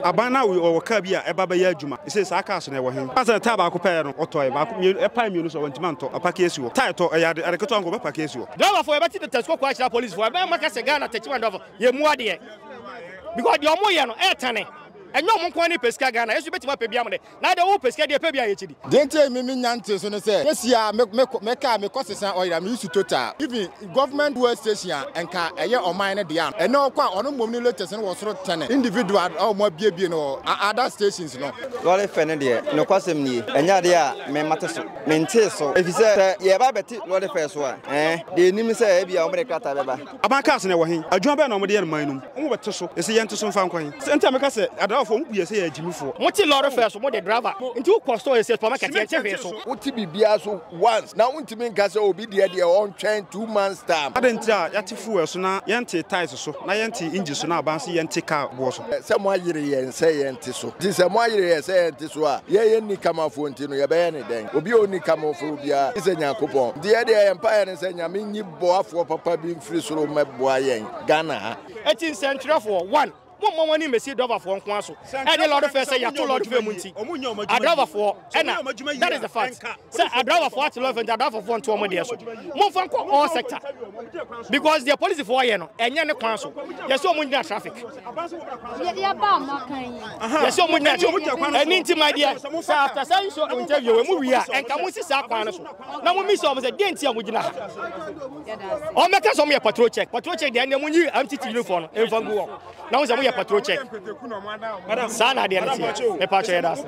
Aban no awoe, ɔwɔ kaa bi a ɛba bɛyɛ adwuma. Ese saa kaa so no, ɛwɔ he? Ansa na tae baako pɛɛ no, ɔtɔe baako, mmienu, ɛpae mmienu so a, wantumi antɔ. Apake asi hɔ. Tae tɔ, ɛyɛ ade, ade ketewa nko, bɛpake asi hɔ. Driverfoɔ yɛbɛte Doctor Squaquo akyerɛ Policefoɔ ɛbɛn a maka sɛ Ghana taxi man driverfoɔ yɛ mmu adeɛ because deɛ wɔyɛ no ɛɛtane ɛnyɛ wɔn nko ara na ɛpɛ sika Ghana yɛso yɛbɛtumi apɛ bi ama dɛ. Na deɛ wopɛ sika deɛ pɛ bi a yɛ kyɛ bi. Deɛ nti a me me nya ntee so ne sɛ kesi a me me me car me kɔ sesa oil a me use total even government fuel station a nka ɛyɛ ɔman no dea no ɛnɛ ɔkɔ a ɔno mmom ne latest no wɔ soro tɛne individual a ɔmo abiebie no wɔ other stations no. Lɔre fɛ no deɛ nokwasɛm nie ɛnyɛ adeɛ a me mate so me ntee so efisɛ sɛ yɛɛba abɛte lɔre fɛ so a ɛɛ deɛ nim ne sɛ ɛbia ɔmo de krataa bɛba. Aban cars no ɛwɔ he? Adwuma bɛn na wɔde yɛ no man no mu? Mo bɛte so? Ese yɛnte so mfa nkɔ he? Sɛ nti a meka sɛ adrawafoɔ mo bu yɛn sɛ yɛ agyimifoɔ. Mote lɔre fɛɛ so mo de driver nti wo kɔ store yɛse supermarket yɛnte hwee so. Wote biribiara so once na wontumi nka sɛ obi deɛ deɛ ɔntwɛn two months time. Adɛn nti a yɛate fuel so na yɛntee tyres so na yɛntee engine so na aban se yɛnte car boɔ so? Sɛ moayere yɛn sɛ yɛnte so nti sɛ moayere yɛn sɛ yɛnte so a yɛ yɛ nnikamafoɔ nti no yɛbɛyɛ no dɛn? Obi a ɔnni kamafoɔ biara gye sɛ Nyankopɔn nti yɛ deɛ yɛn mpaeɛ ne sɛ Nyame nyi Boafoɔ papa bi mfiri soro mmɛboa yɛn Ghana ha. Eti nsɛntwerɛfoɔ, one, mommɔ mo ani mmɛsi Doverfoɔ nko ara so. Ɛdeɛ Lord fɛɛ sɛ yɛto Lord fɛɛ mu nti, Adravafoɔ ɛna, that is the fact. Sɛ Adravafoɔ ate Lord fɛɛ nti, Adravafoɔ nto wɔn deɛ so. Momfa nkɔ all sector. Because deɛ polisifoɔ yɛ no, ɛnyɛ ne kwan so. Yɛse wɔn ngyina traffic. Yɛse wɔn ngyina, ɛno nti my dear, sɛ after saa nsuo interview wei mo wie a, ɛnka monsi saa kwan no so. na mommisa wɔn sɛ deɛ nti a mogyina ha wɔmmɛka sɛ wɔyɛ patrol check patrol check deɛ ɛnɛ monyi mtt uniform no mfa ngu wɔn na ho sɛ moyɛ patrol check saa na adeɛ no teɛ mepa kyɛ yɛda ase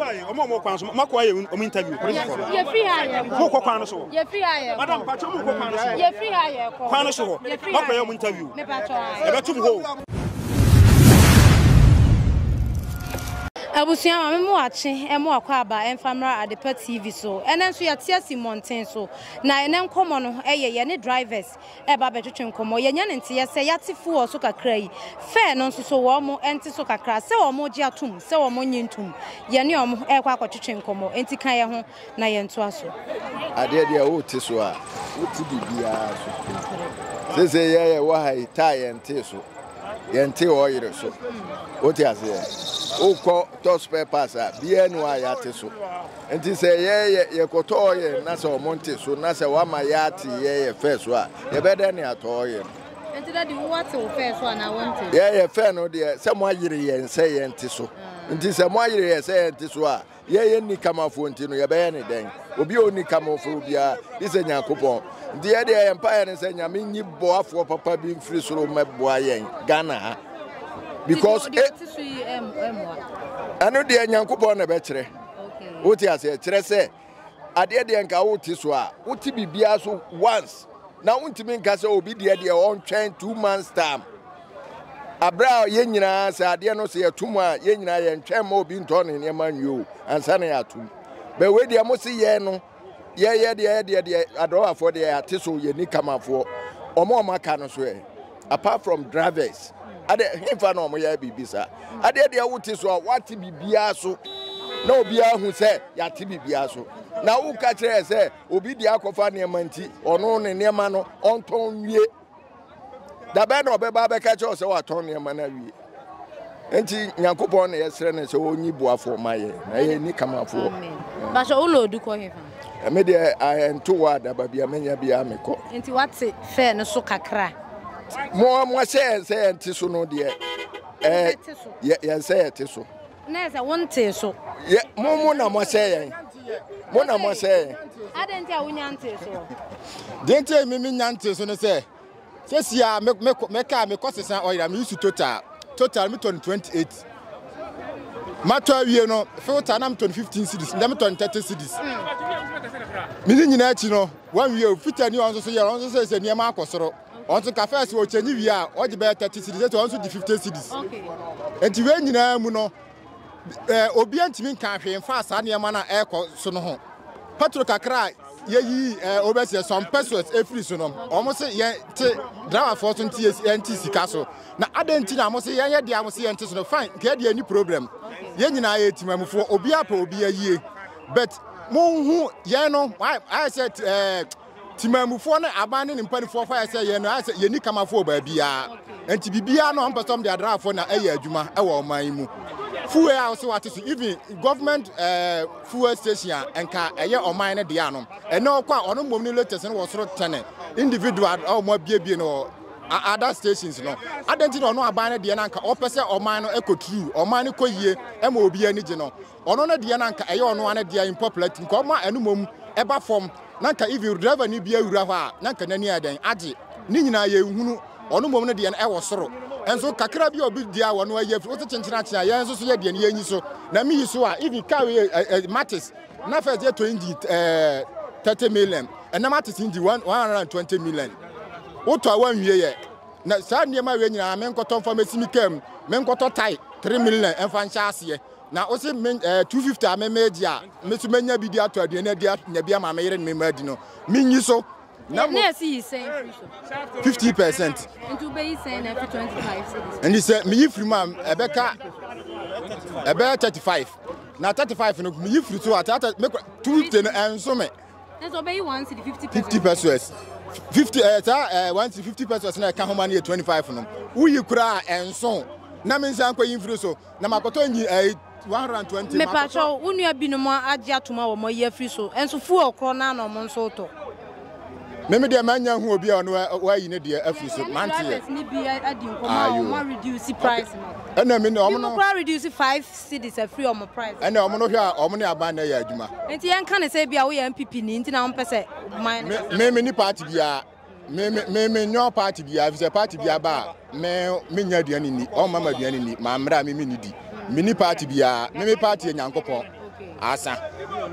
mokɔ kwan no so hɔ madam pakyɛ mokɔ kwan no so hɔ kwan no so hɔ makɔyɛ mo interview ɛbɛtom hɔ Abusua, ma me moakye ɛmo akɔ aba ɛmfa mmra Adepa TV so. Ɛnɛ nso yɛte asi mmɔnten so. Na ɛnɛ nkɔmmɔ no ɛyɛ yɛne drivers ɛreba abɛtwetwe nkɔmmɔ. Yɛnya ne nteeɛ sɛ yɛate fuel so kakra yi, fare no nso so wɔn ɛnte so kakra, sɛ wɔn gye atom, sɛ wɔn nnye ntom. Yɛne wɔn ɛrekɔ akɔtwetwe nkɔmmɔ. Enti ka yɛn ho. na yɛntoa so. Adeɛ deɛ wote so a, wote biribiara so. Sese yɛ yɛwɔ ha yi, taa yɛntee so, yɛntee ɔyere so. Wote aseɛ? Wokɔ tɔ spare parts a, biara ni hɔ a yɛate so. Nti sɛ yɛyɛ yɛkɔtɔ ɔyɛ na sɛ wɔn nte so na sɛ wama yɛate yɛyɛ fɛ so a, yɛbɛdɛ ne atɔ ɔyɛ no. Nti dadi wo wate wo fɛ so anaa wɔnte? Yɛyɛ fɛ no deɛ sɛ mo ayere yɛn sɛ yɛnte so. Ah. Nti sɛ mo ayere yɛn sɛ yɛnte so a, Yɛyɛ nnikamafoɔ nti no yɛbɛyɛ ne dɛn? Obi a ɔnni kamofoɔ biara gye sɛ Nyankopɔn. Nti yɛ deɛ yɛn mpaeɛ ne sɛ Nyame nyi boafoɔ papa bi mfiri soro mmɛboa yɛn Ghana ha. Because e- ɛno deɛ Nyankopɔn na ɛbɛkyerɛ. Wote aseɛ kyerɛ sɛ adeɛ deɛ nka wote so a wote biribiara so once na wontumi nka sɛ obi deɛ deɛ ɔntwɛn two months time Aberɛ a yɛn nyinaa, sɛ adeɛ no sɛ yɛto mu a, yɛn nyinaa yɛntwɛn mma obi ntɔ ne nneɛma nwie o, ansa na yɛato mu. Bɛ wei deɛ mo se yɛn no, yɛyɛ deɛ yɛdeɛ deɛ, adɔwafoɔ deɛ yɛate so, yɛni kamafoɔ. Wɔn a wɔaka no so ɛ, apart from drivers, adɛ hefa na wɔn yɛ biribi saa? Adeɛ deɛ wote so a, woate biribiara so, na obiara hu sɛ yɛate biribiara so. Na woka kyerɛ yɛ sɛ obi deɛ akɔfa nneɛma nti, ɔno ne nneɛma no ɔntɔn nwie. da bɛn na ɔbɛba abɛka kyerɛ sɛ watɔn nneɛma no awie nti nyankopɔn na yɛsrɛ no sɛ ɔnyi boafoɔ ma yɛ na yɛ ni kamafoɔ basɛ wo na ɔdu kɔ hefa ɛme deɛ ɛnto wɔ adaba bia menya biaa mekɔ nti wate fɛɛ no so kakra mo mo ahyɛ yɛn sɛ yɛnte so no deɛ yɛn sɛ yɛte so Na ɛsɛ sɛ wontee so. Yɛ, mo, mo na moahyɛ yɛn. Mo na moahyɛ yɛn. Adɛn nti a wonya ntee so? Deɛ nti a me menya ntee so ne sɛ, sɛsi a me, me, meka a mekɔ sesa ɔyere a meyi su total. Total metɔ no 28. Matɔ awie no, filter na metɔ no 15 cities, ndɛ metɔ no 30 cities. Mene nyinaa akyi no, wɔnwie o, filter ni ɔno nso so yɛ, ɔno nso sɛ sɛ nneɛma akɔ soro. Ɔno nso ka fɛs ɔkyɛnyi wie a ɔgye bɛyɛ thirty cedis ɛti ɔno nso gye fifty cedis nti wei nyinaa mu no ɛɛ obiara ntumi nka hwee nfa saa nneɛma no a ɛrekɔ so no ho petro kakra a yɛyi ɛɛ obɛsi ɛsɔn pesos efiri so no wɔn se yɛn te driverfoɔ so nti yɛn ti sika so na adan nti na wɔn se yɛn yɛ deɛ wɔn se yɛn te so no fine kɛɛ deɛ ni problem yɛn nyinaa yɛ timamufoɔ obiara pɛ obiara yie but mo hu yɛn no ayɛ sɛ ɛɛ. Temanmufoɔ ne aban ne ne mpanifoɔ faeɛ sɛ yɛn no ayɛ sɛ yɛnni kamafoɔ wɔ baabiara nti biribiara no wɔn pɛ sɛ wɔn de adraafoɔ na ɛyɛ adwuma wɔ ɔman yi mu fuel a wɔsɛ wɔate so even government eh, fuel station a nka ɛyɛ ɔman no deɛ no ɛnɛ ɔkɔ a ɔno mmom ne latest no wɔ soro tɛne individual a wɔn abiebie no wɔ other stations no adɛn nti na ɔno aban no deɛ no anka ɔpɛ sɛ ɔman no ɛkɔ true ɔman no kɔ yie ɛma obi ani gye no Ɔno ne deɛ na nka ɛyɛ ɔno ara ne deɛ unpopular nti nka ɔma ɛno mmom ɛba fam na nka even driver ni bia wura hɔ a na nka n'ani ayɛ dɛn agye ne nyinaa yɛn nhunu ɔno mmom ne deɛ no ɛwɔ soro nso kakra bi a obi deɛ a wɔno ayi afiri wote kyenkyen akye a yɛn nso so yɛ deɛ no yɛn nyi so na mi yi so a even car wei eh, eh, matis na first yɛ to engine eh, 30 million ɛnam matis engine 120 million wotɔ a wanwie yɛ na saa nneɛma wei nyinaa menkɔtɔ mfa mɛsi me kaa mu menkɔtɔ tae 3 million ɛmfa nhyɛ aseɛ Na wo se me eh, 250 a me megye a me so menya bi de atɔ aduane adi anya bi ama me yere ne me mma adi no menyi so na mo. Na ɛsi yi sɛn firi so? 50 percent. Nti wobɛyi sɛn na afi 25 cities? Nti sɛ meyi firi mu a ɛbɛka ɛbɛyɛ 35 na 35 no meyi firi so a 250 no ɛnso me. Nso wobɛyi 1 city 50 pesos. 50 pesos. 50 ɛɛ saa ɛɛ 1 city 50 pesos na ɛka ho ma no yɛ 25 no woyi koraa ɛnso na mensan kɔyi mfiri so. Na makɔtɔ engine ɛyi eh, one hundred and twenty. Mepatwɔ wo nua binom agye atom a wɔn ayi afiri so nso fuel korɔ naa na wɔn nso tɔ. Mimi deɛ manya hu obi a ɔno wɔayi ne deɛ afiri so mante yɛ. Drivers ni bi adi nkɔmɔ a wɔn reduce price no. Ɛna mi ne wɔn no. Bi kura reduce five cities afiri wɔn price. Ɛna wɔn no hwɛ a wɔn ne aban na ɛyɛ adwuma. Nti yɛn ka ne sɛ ebi a woyɛ NPP ni nti na wɔn pɛ sɛ ɔman. Mimi ni party biara. Me me me me nyɔ party bia efisɛ party bia ba a me me nya aduane ni wɔn mama aduane ni maa mmerɛ a me me ni di me ni party bia me me party yɛ nyankopɔn asa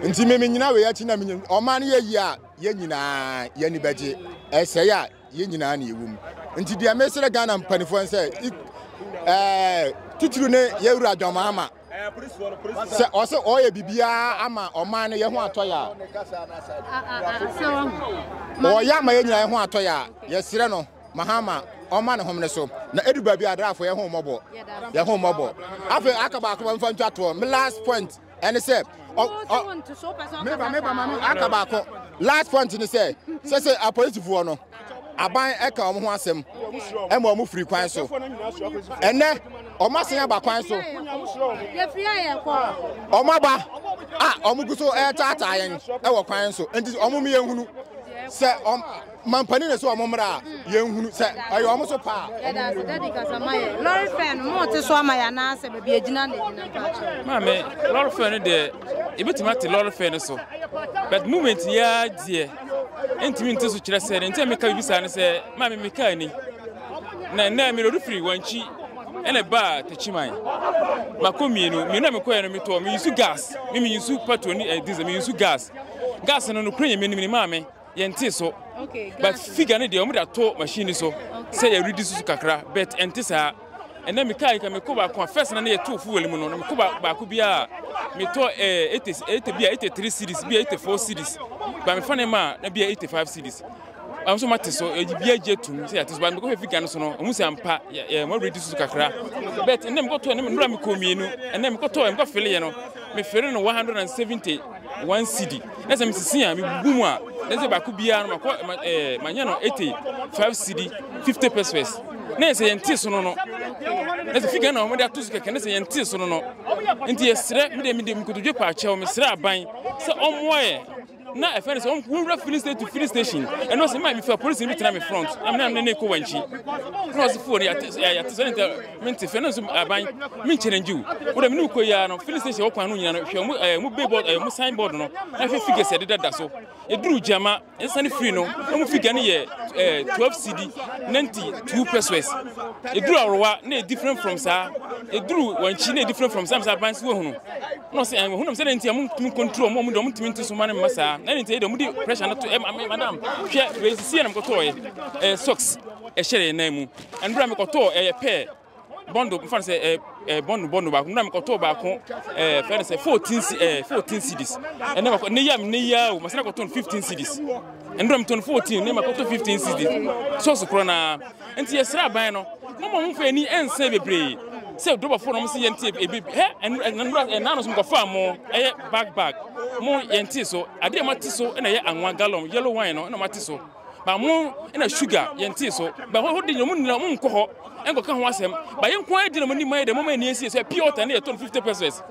nti me me nyina wei akyi na me nyina ɔman no yɛ yie a yɛn nyinaa yɛn ani bɛgye ɛsɛe a yɛn nyinaa na ɛwɔ mu nti deɛ mesrɛ Ghana mpanimfoɔ sɛ ɛɛ titiri ne yɛwura John Mahama sɛ ɔsɛ ɔyɛ biribiara ama ɔman no yɛ ho atɔ yɛ a ɔyɛ ama yɛ nyinaa yɛ ho atɔ yɛ a yɛserɛ no mahama ɔma ne homene so na ɛdu baabi adrafo yɛ ho mmɔbɔ yɛ ho mmɔbɔ afei aka baako ma mfa ntwa toɔ me last point ɛne sɛ meba meba ma no aka baako last point ne sɛ sɛ sɛ apolisifoɔ no aban ɛka wɔn ho asɛm ɛma wɔn firi kwan so ɛnɛ wɔn asen aba kwan so wɔn aba a wɔn gu so ɛretaataa yɛn ɛwɔ kwan so nti wɔn mmienu sɛ wɔn. mampanin na sɛ wɔn mmra a yɛnhunu sɛ ɛyɛ wɔn so paa. ɛda ase dadi kasa ma yɛ lɔre fɛn no mo te so ama yɛ anaasɛ baabi agyina na agyina mpaakyɛ. maame lɔre fɛn no deɛ ebetumi ate lɔre fɛn no so but movement yɛ deɛ ntumi nti so kyerɛ sɛ ne ntɛn meka bibi saa ne sɛ maame meka ani na nnɛ mi lɔre firi wɔn akyi ɛna baa takyiman mako mmienu mmienu na mekɔɛ no metɔɔ meyusu gas me meyusu patro ne eh, diesel meyusu gas gas no no kura yɛ menim ne maame Yɛnte so. But figure no deɛ wɔn de ato machine so sɛ yɛ redi susu kakra but ɛnte saa. Ɛnna mekaa yi ka mekɔ baako a first na ne yɛtoo fuel mu no na mekɔ baako bi a metɔ ɛɛ eighty eighty bi a eighty three series bi a eighty four series ba mefa ne ma a na bi a eighty five series. Wɔn nso mate so ɛyi bi agye tum sɛ yɛte so ba mekɔ hwɛ figure no so no wɔn sɛ mpa yɛ yɛ wɔn redi susu kakra but ɛnna mekɔtɔ ɛnna mmerɛ mekɔ mmienu ɛnna mekɔtɔ mekɔ fili yɛ no mefiri no one hundred and seventy. One cedi na sɛ mesisi a mebubu mu a na sɛ baako biara no makɔ ma ɛɛ eh, manya no ete five cedi fifty pesos na sɛ yɛn te so no no na sɛ figa na wɔn de ato so kɛkɛ na sɛ yɛn te so no no nti yɛsrɛ me de me de nkotodwe paakyɛw mesrɛ aban sɛ ɔmmoa yɛ na ɛfɛ no sɛ wɔn wura filling station to filling station ɛno sɛ maa mi fɛ polisi bi tena mi front na mi na mi ne ne kɔ wɔn akyi na ɔsi fo no yɛ ate sɛ yɛ ate sɛ ne nta. Mente fɛ no nso aban me challenge wo. Wo da me ne ko ya no filling station okwan no nyina no hwɛ mu eh mu billboard eh mu signboard no. Na hwɛ figures de dada so. Eduru jama nsa ne free no. Na mu figure no yɛ eh 12 cd 92 pesos. Eduru awrowa na e different from saa. Eduru wanchi na e different from saa msa aban so ehunu. No se eh ehunu msa na ntia mu tumi control mu mu de mu tumi nti so ma ne masa. Na ntia de mu di pressure na to eh madam hwɛ we sisi na mkoto eh socks ɛhyɛ yɛn nan mu Nnura mi kɔtɔɔ ɛyɛ eh, pɛɛ bɔndo nfa no sɛ ɛɛ eh, eh, bɔndo bɔndo baako nnura mi kɔtɔɔ baako ɛɛ fɛn no sɛ fourteen si ɛɛ fourteen cedis ɛnɛ ma ne yam ne yia o ma sɛ kɔtɔn fifteen cedis nnura mi tɔn fourteen ne ma kɔtɔ fifteen cedis sɔɔso korɔ naa nti yɛsrɛ aban no mo ma mo fɛ ani ɛnsɛn bebree sɛ dɔbɔfo na mo si yɛn ti ebi hɛ nnura ɛnano so mo kɔfa mo ɛyɛ bag bag mo yɛn ti so adeɛ ma ti so ɛna ɛyɛ anwa gallon yellow wine no ɛna ma ti so. Ba mo na sugar yɛn tee so. Ba hɔ hɔ de nyɛ mo nyina mo nkɔ hɔ nkɔ ka ho asɛm. Ba yɛn nko ara gyina mo anim ayɛ dɛ mo ma ani asie sɛ pure water ne yɛ tɔn 50 pesos.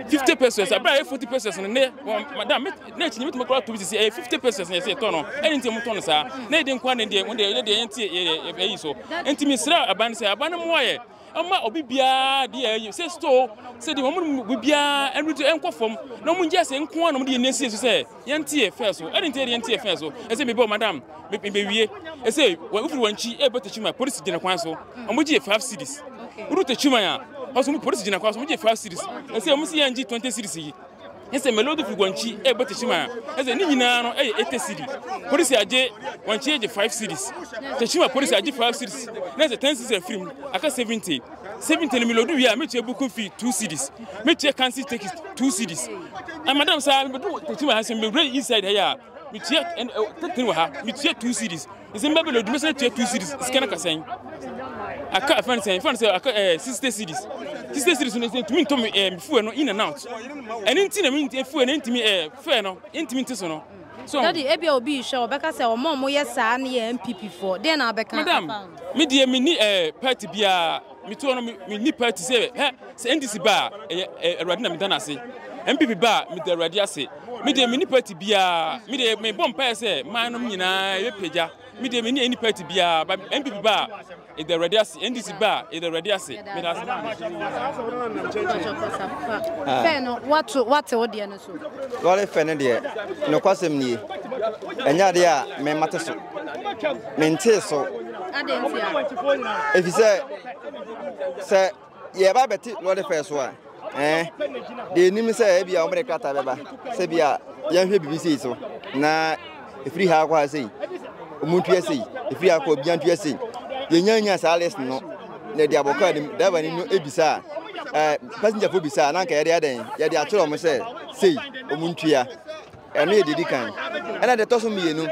50 pesos abira yɛ 40 pesos ne ne madam me na akyi nyimit mo kora to sisi ɛyɛ 50 pesos ne yɛ sɛ tɔn no. Ɛne nti mo tɔn saa. Na yɛ de nko ara ne deɛ mo deɛ yɛ deɛ yɛn ti yɛ yɛ yɛ so. Nti me srɛ aban sɛ aban mo ayɛ Ɛmma obi biara de yɛ yɛ sɛ store sɛ de wɔn mu biara ɛnu to ɛnkɔ fam na wɔn gye ase nko ara na wɔn de yɛ nneɛma so sɛ yɛn ti yɛ fɛ so ɛde nti yɛn ti yɛ fɛ so ɛsɛ mi bɔ madam mi mi bɛ wie ɛsɛ wɔn efiri wɔn akyi ɛbɛ tɛ kyima polisi gyina kwan so wɔn gye yɛ five cities wuru tɛ kyima ya ɔsɔ mu polisi gyina kwan so wɔn gye five cities ɛsɛ wɔn si yɛn gye twenty cities yi. ne sɛ Melodi firi Guangxi ɛrebɔ Teshima ɛsɛ ne nyinaa no ɛyɛ 80 cedi. Polisi agye Guangxi agye 5 cedis. Teshima polisi agye 5 cedis na ɛsɛ 10 cedis afiri mu aka 70. 70 no Melodi wie a metua buku fee 2 cedis. Metua kansi tekis 2 cedis. And madam saa mebedu Teshima ha sɛ mewura inside ha yɛ a metua 13 wɔ ha metua 2 cedis. Nsɛm bɛbɛ na odwuma sɛ tua two cities sika no kasɛn. Aka afɛn sɛn fɛn sɛ aka ɛɛ eh, sixty cities. Sixty cities no ntumi ntɔ mi ɛɛ eh, fuel no in and out. Ɛne nti na mi eh, fuel no ntumi ɛɛ fɛn no ntumi nti so no. So. Dadi ebi a obi hwɛ ɔbɛka sɛ wɔn a wɔyɛ saa no yɛ NPP foɔ. Deɛ na abɛka. Madam, mi deɛ mi ni ɛɛ party biara. Me tuo no, me nipa ti sɛ hɛ, sɛ NDC ba a, ɛyɛ eh, Awurade na meda no ase. MPP ba a, meda Awurade ase. Me deɛ me nipa ti biara, me deɛ mebɔ mpaeɛ sɛ man nom nyinaa ɛbɛpagya. Me deɛ me ne nipa ti biara, ba MPP ba a, ɛda Awurade ase. NDC ba a, ɛda Awurade ase. Meda ase. Pɛɛ no, wate wo deɛ no so. Lɔre fɛ no deɛ, nokwasɛm nie, ɛnyɛ adeɛ a memmate so. Mentee so. Adɛn nti a? Ɛfiri sɛ, sɛ yɛba bɛte lɔre fɛ so a, ɛɛ eh, deɛ ɛnim sɛ ebi a wɔde krataa bɛba sɛ bi a yɛnhwɛ biribi sei so na Ɛfiri ha akɔ ha sei, wɔn ntua sei. Ɛfiri ha akɔ bia ntua sei. Yɛnya nya saa list no na ɛde abɔ kaa nim. Driver ni no ebisa a, passenger fo bisa a, na anka yɛde adɛn? Yɛde akyerɛ wɔn sɛ sei, wɔn ntua. Ɛno yɛ dedi kan. Ɛna deɛ ɛtɔ so mmienu,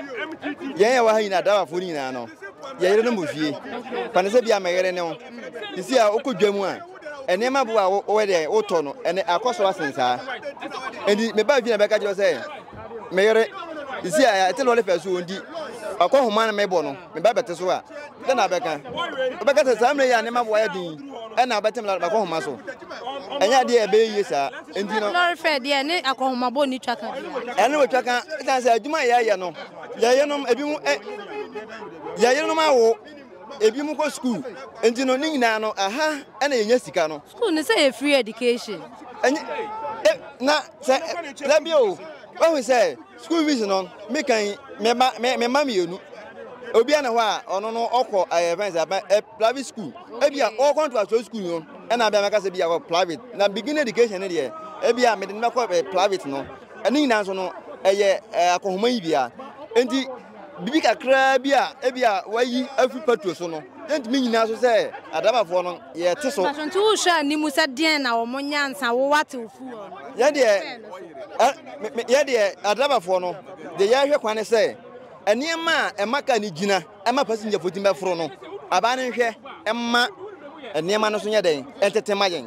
yɛn yɛwɔ ha nyinaa, driver fo nyinaa no, yɛyere no mo fie. Fa no sɛ bi a mɛyere ne wo. Sisi a wokɔ dwa mu a, nneɛma bo a wɔyɛ dɛ wotɔ no ɛnɛ akɔ so asen saa nti mebaa fie na bɛka kyerɛ sɛ meyere si a ɛte lɔre fɛ so wɔndi ɔkɔ homa no mebɔ no meba bɛte so a sɛ na bɛka wobɛka sɛ saa mmerɛ yɛ a nneɛma bo ayɛ den ɛna wobɛte me makɔ homa so ɛnyɛ adeɛ a ɛbɛyɛ yie saa nti no lɔre fɛ deɛ ne akɔhomabɔ ne twaka ɛne wɔtwa ka ɛsiane sɛ adwuma a yɛyɛ no yɛyenom ebi mu yɛyenom awo Ebinom kɔ sukuu. Nti no, ne nyinaa no, aha na yenya sika no. Sukuu no sɛ yɛ free education. Ɛnyɛ e na sɛ dabi o. Wahu sɛ sukuu fees no me kan me ba me me ma mmienu. Obia na hɔ a ɔno no ɔkɔ ɛyɛ fɛn sɛ ɛ private school. Ebi a ɔkɔ nto aso sukuu no ɛna abia mɛka sɛ bi a wɔ private na begin education no deɛ ebi a mede no bɛkɔ private no. Ɛne nyinaa nso no ɛyɛ akɔnhoma yi bia. Nti. Biribi kakraa bi a ebia wɔayi afi Petro so no, yɛntumi nnyina so sɛ Adamafoɔ no, yɛte so. Nanso nti wohwɛ anim sɛ deɛn na wɔn nyansa wo w'atewfo wɔ no? Yɛn deɛ, ɛ, me, me, yɛn deɛ, Adamafoɔ no, deɛ yɛhwɛ kwan ne sɛ, nneɛma a ɛma kaa no gyina, ɛma pasingyafo tumi bɛforo no, aban no nhwɛ mma nneɛma no so nyɛ dɛn, ɛntete mma yɛn.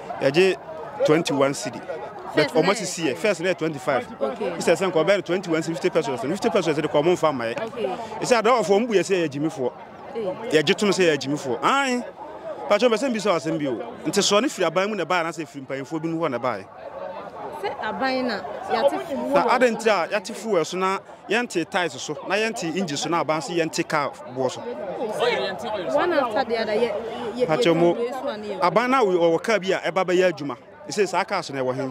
Yɛgye twenty one cedi. But ɔmo asisi yɛ first na yɛ twenty five. Sɛ sɛ nkɔbɛ no twenty one cedi fifty pesos no fifty pesos de kɔ ɔmo nfa mma yɛ. Ɛsɛ adɔɔfo ɔmo bu yɛ sɛ yɛ gyimifoɔ. Yɛgye tom sɛ yɛ gyimifoɔ. Ae. Patro bɛ sɛ mbi sɛ ɔsɛm bi o. Nti soɔ ne firi aban mu na ɛbaeɛ anaasɛ firi mpanyinfoɔ bi mu hɔ na ɛbaeɛ? Sɛ aban na yɛate fuel. Na adɛn nti a yɛate fuel so na Yɛnte tiles so na yɛnte engine so na aban so yɛnte car boɔ so. Pakyɛ mo aban na wɔwɔ car bi a ɛba bɛyɛ adwuma. Ɛsɛ saa car so na ɛwɔ he.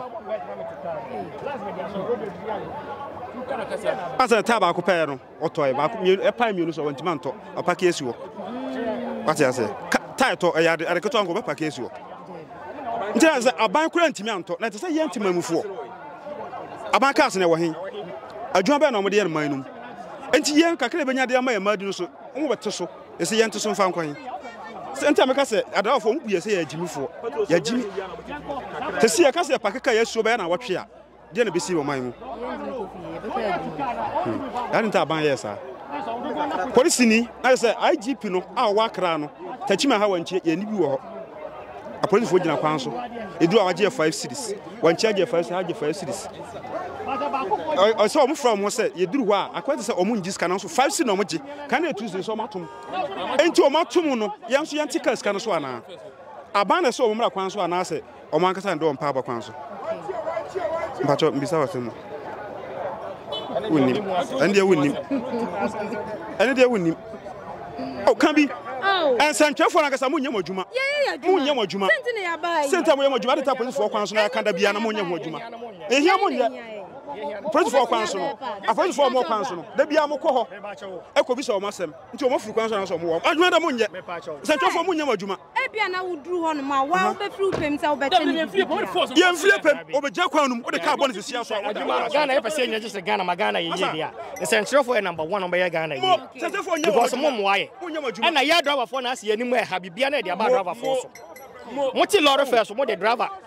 Asa taa baako pɛɛ no ɔtɔe baako mmienu ɛpae mmienu so wɔntumi antɔ ɔpake esi hɔ. Wate aseɛ. Tae tɔ ɛyɛ ade ade ketewa nko bɛpake esi hɔ. nti na sɛ aban kura ntumi antɔ na ɛte sɛ yɛn tema mufoɔ aban cars na ɛwɔ he adwuma bɛyɛ na wɔde yɛ no man no mu nti yɛn kakra ɛbɛnya de ama yɛn mmaa di no so wɔn bɛte so ɛsɛ yɛn te so mfa nkwan sɛ nti a meka sɛ adrawafoɔ mu buyɛ sɛ yɛ agyimifoɔ yɛ agyimi te sɛ yɛka sɛ pakeka yɛ asuo bɛyɛ na wɔtwe a Deɛ na ɛbɛsi wɔ ɔman mu. Yɛade hmm. nta aban yɛɛ saa. Polisini na yɛ sɛ IGP no a ɔwɔ akra no takyima ha wɔnkyɛ yɛni bi wɔ hɔ. Apolisifoɔ gyina kwan so. Ɛduru a wagye yɛ five cities. Wɔnkyɛ agye five cities, agye five cities. Ɔsɛ wɔn fura wɔn sɛ yɛduru hɔ a akwan te sɛ wɔn ngye sika no nso five cities na wɔn gye. Kan na etu sɛ wɔn atom. Enti wɔn atom no yɛn nso yɛn ti ka sika no so anaa? Aban na ɛsɛ wɔn mmra kwan so anaasɛ Wɔn ankasa na ɛde wɔn paaba kwan so. Mpakyɛ mbisa wɔ asɛm mu. Wonnim. Ɛne deɛ wonnim. Ɛne deɛ wonnim. O ka bi. Nsɛntwerɛfoɔ no ankasa monyɛ mo adwuma. Monyɛ mo adwuma. Sɛnti a moyɛ mo adwuma de ta polisifoɔ kwan so na yɛka da biara na monyɛ ho adwuma. Ɛhia monyɛ. Polisifoɔ kwan so no. Apolisifoɔ wɔn kwan so no. Da biara mokɔ hɔ. Ɛkɔ bi sɛ wɔn asɛm. Nti wɔn afiri kwan so na sɛ wɔn wɔ. Adwuma da monyɛ. Nsɛntwerɛfoɔ monyɛ mo adwuma. Ebia na woduru hɔnom a, wo ara wobɛfiri wo pɛ mu sɛ wobɛkyɛ no biribiara. Yɛmfiri yɛn pɛ mu, wɔbɛgyina kwan no mu, wode kaa bɔ no sɛ si aso a, wode awa no aso. Ghana yɛpɛ sɛ yɛnya gye sɛ Ghana ma Ghana yɛ yie deɛ a, nsɛnkyerɛfoɔ yɛ number one a wɔbɛyɛ Ghana yie. Because mo mmoa yɛn. Ɛna yɛn driverfoɔ na asɛ yɛn anim ɛha, biribiara na yɛde aba driverfoɔ so. Mote lorry fare so, mode driver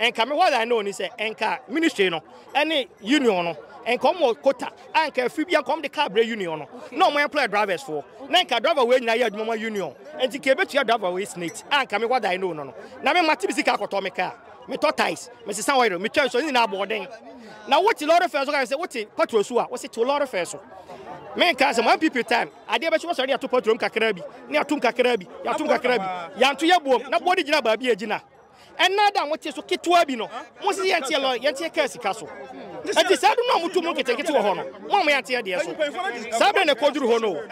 Nka me hɔ line no ni sɛ nka ministry no ɛne union no nka ɔmo wɔ kota a nka afiri bi nka ɔmo de car brɛ union no na ɔmo employ drivers foɔ na nka driver wei nyinaa yɛ adwuma ma union nti nka ebetua driver wei snate a nka me hɔ line no no no na me mate me sika akɔtɔ me car metɔ ties mesesa oil metwa nsuo ne nyinaa aboɔden na wote lɔre fɛ so ka sɛ wote patrol so a wose to lɔre fɛ so menka sɛ mo mpp time adeɛ bɛkyi wɔsɔre de ato patrol mu kakra bi ne atom kakra bi yɛatom kakra bi yɛanto yɛ boom na boɔ de gyina baabi a gyina Ɛnna da a mote so ketewa bi no, mose sɛ, 'Yɛnteɛ lɔre, yɛnteɛ kaa sika so. Enti saa bere no a motu mo nketenkete wɔ hɔ no, moammoa anteɛ deɛ so. Saa bere na ɛkɔduru hɔ no o.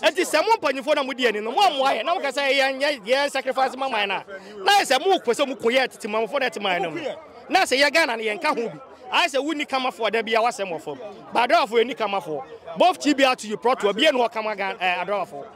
Enti sɛ mo mpanyimfo no a mudi anim no, moammoa yɛn, na moka sɛ, 'Yɛnyɛ yɛn sacrifice mma man no' a, na ayɛ sɛ mopɛ sɛ mukum yɛn tete manfo na ɛte man no mu. Na ɛsɛ yɛ Ghana no, yɛnka ho bi. Ayɛ sɛ wonni Kamafoɔ a da biara w'asɛm wɔ fam. Ba Adowafoɔ, yɛnni Kamafoɔ. Both TBR to you, Prɔtoɔ, biara nni hɔ kama Ghana, eh, Adowafoɔ.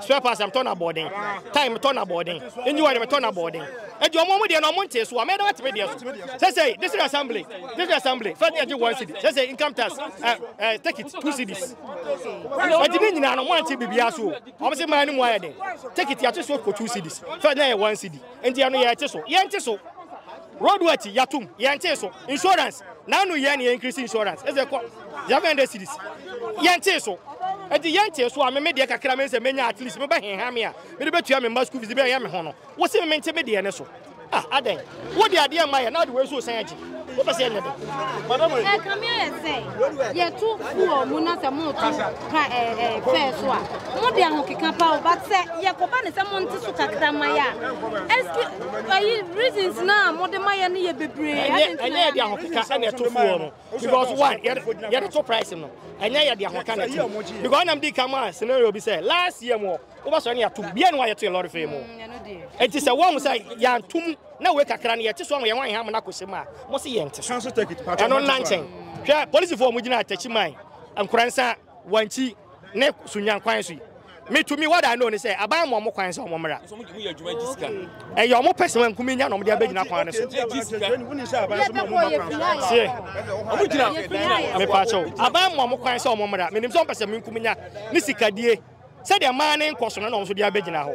Spare parts na metɔ no abɔɔden. Tyre metɔ no abɔɔden. Engine oil metɔ no abɔɔden. Enti wɔn wɔn deɛ no wɔn ntee so a, mɛyɛ dɛ wɔate me deɛ so. Sɛsɛi, district assembly, district assembly, fɛ ɛgye one cedi. Sɛsɛi, income tax, ɛ ɛ take it, two cedis. Enti ne nyinaa no, wɔn ante biribiara so o. Wɔn se man no mu ayɛ den. Take it, yɛate so kɔ two cedis. Fɛ na ɛyɛ one cedi. Enti ɛno yɛte so. Yɛnte so. Road works yatom yɛntee so. Insurance naanu yɛn na yɛ increase insurance ɛsɛ kɔ seven hundred cedis yɛntee so ɛti yɛntee so a me me deɛ kakra me nsɛ menya at least me bɛ heha me a me de bɛ tua me mma school fees bɛ yɛ me ho no wo se me mente me deɛ ne so ah adɛn wo de adeɛ mma yɛ na de wei so san agye wo pɛ sɛ yɛ nyɛ dɛ. Ɛkame ayɛ sɛ yɛto fuel mu na sɛ moto ka eh, eh, fɛn so a mo de ahokeka pa o but sɛ yɛkɔba ne sɛ mo nte so kakra ma yɛ a ɛski ayi reasons na mo de ma yɛ no yɛ bebree ɛnyɛ yɛ de ahokeka ɛna ɛto foɔ no because one yɛde to price no ɛnyɛ yɛ de ahokeka na ɛto because ɔnam di ka mu a scenario bi sɛ last year mu wobɛsɔre ne yɛatom bia ne wayɛ to yɛ lɔre fɛ mu ɛnti sɛ wɔn sɛ yɛantom na wei kakra no yɛte so ama yɛn ho ayɛ ha mo no akɔhyɛ mu a mo se yɛnte so ɛno nna nkyɛn hwɛ polisifoɔ mo gyina atakyi man Nkoransa, Wankyi ne Sunya kwan so yi, me to me what I know ne sɛ aban ma wɔn kwan sɛ wɔn mmra. Ɛyɛ wɔn pɛ sɛ wɔn nkumi nya na wɔn de abɛgyina kwan no so. Tie, mepaakyɛw, aban ma wɔn kwan sɛ wɔn mmra. Menim sɛ wɔn pɛ sɛ me nkumi nya ne sikadie sɛdeɛ mmaa ne nkɔ so no na wɔn nso de abɛgyina hɔ.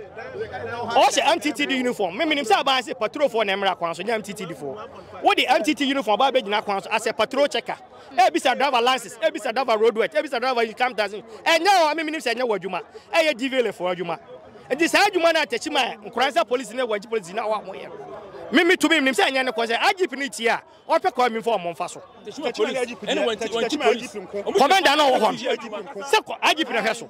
Ɔhyɛ MTTD uniform. Me menim sɛ aban sɛ patrofoɔ na mmra kwan so nyɛ MTTD foɔ. Wode MTT uniform aba abɛgyina kwan so as a patrol checker. Ebisa driver license, ebisa driver road work, ebisa driver income tax. Ɛnyɛ o, ɛmi mi nim sɛ ɛnyɛ wɔ adwuma. Ɛyɛ DVLA fo adwuma. Nti saa adwuma no a tɛkyi ma nkoransa polisi ne wɔgye polisi na wɔn yɛ no. Mi mi tumi nim sɛ ɛnyɛ ne kɔ sɛ IGP ne tie a ɔpɛ kɔ mi fɔ ɔmo nfa so. Tɛkyi ma IGP deɛ, tɛkyi ma IGP nko. Kɔmɛnda na ɔwɔ hɔ no. Sɛ kɔ IGP na hwɛ so.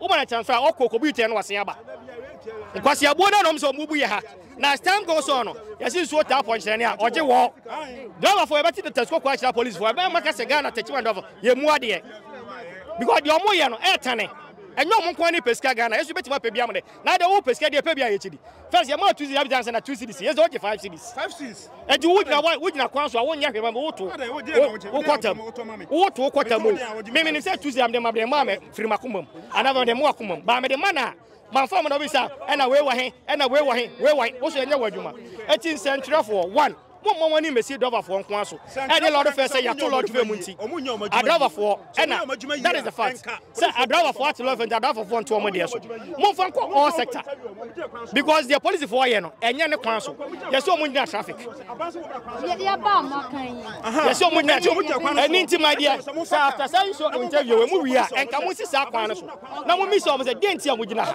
Woba no kyɛn so a, ɔkɔ kɔbu itɛn no wɔ Seaba. Nkwaseabuo no na wɔn sɛ wɔn bu yɛ ha. Na as time goes on no, yɛsi nsuo taa pɔnkyerɛne a, ɔgye wɔ. Driverfoɔ yɛbɛte data sukuu kɔ akyerɛ apolisifoɔ, ɛbɛn maka sɛ Ghana taxi man driverfoɔ yɛ mu adeɛ. Because deɛ wɔn yɛ no ɛtane. Ɛnyɛ wɔn nko ara na ɛpɛ sika Ghana, yɛn nso yɛbɛtumi apɛ bi ama dɛ. Na deɛ wɔn pɛ sika deɛ ɛpɛ bi a yɛkyɛ bi. First yɛ maa two cedis abigya ansa na two cedis yɛ sɛ ɔgye five cedis. Five cedis. Eti wo gyina wa wo gyina kwan so a wo nyɛ hwɛ ma mi wo to wo kɔtam wo to wo kɔtam o mi mi ni sɛ two cedis mi de ma mi de ma mɛ firi ma kumam ana mi de ma wa kumam ba mi de ma na ma nfa mu na obi sa ɛna wei wɔ he ɛna wei wɔ he wei wɔ he woso yɛ nyɛ wɔ adwuma eti nsɛntwerɛfoɔ one. Mommɔ mo ani mmɛsi driverfoɔ nko ara so ɛne lɔrefoɔ sɛ yɛato lɔre fɛ mu nti adriverfoɔ ɛna that is the fact sɛ adriverfoɔ ate lɔre fɛ nti adriverfoɔ nto wɔn deɛ so momfa nkɔ all sector because deɛ polisifoɔ yɛ no ɛnyɛ ne kwan so yɛsɛ wɔn nyina traffic yɛsɛ wɔn nyina kyɛ ɛne nti ma deɛ sɛ after saa nso interview wɔ mu wie a ɛnka mo nsi saa kwan no so na mo mmisa wɔn sɛ deɛ nti a mo gyina ha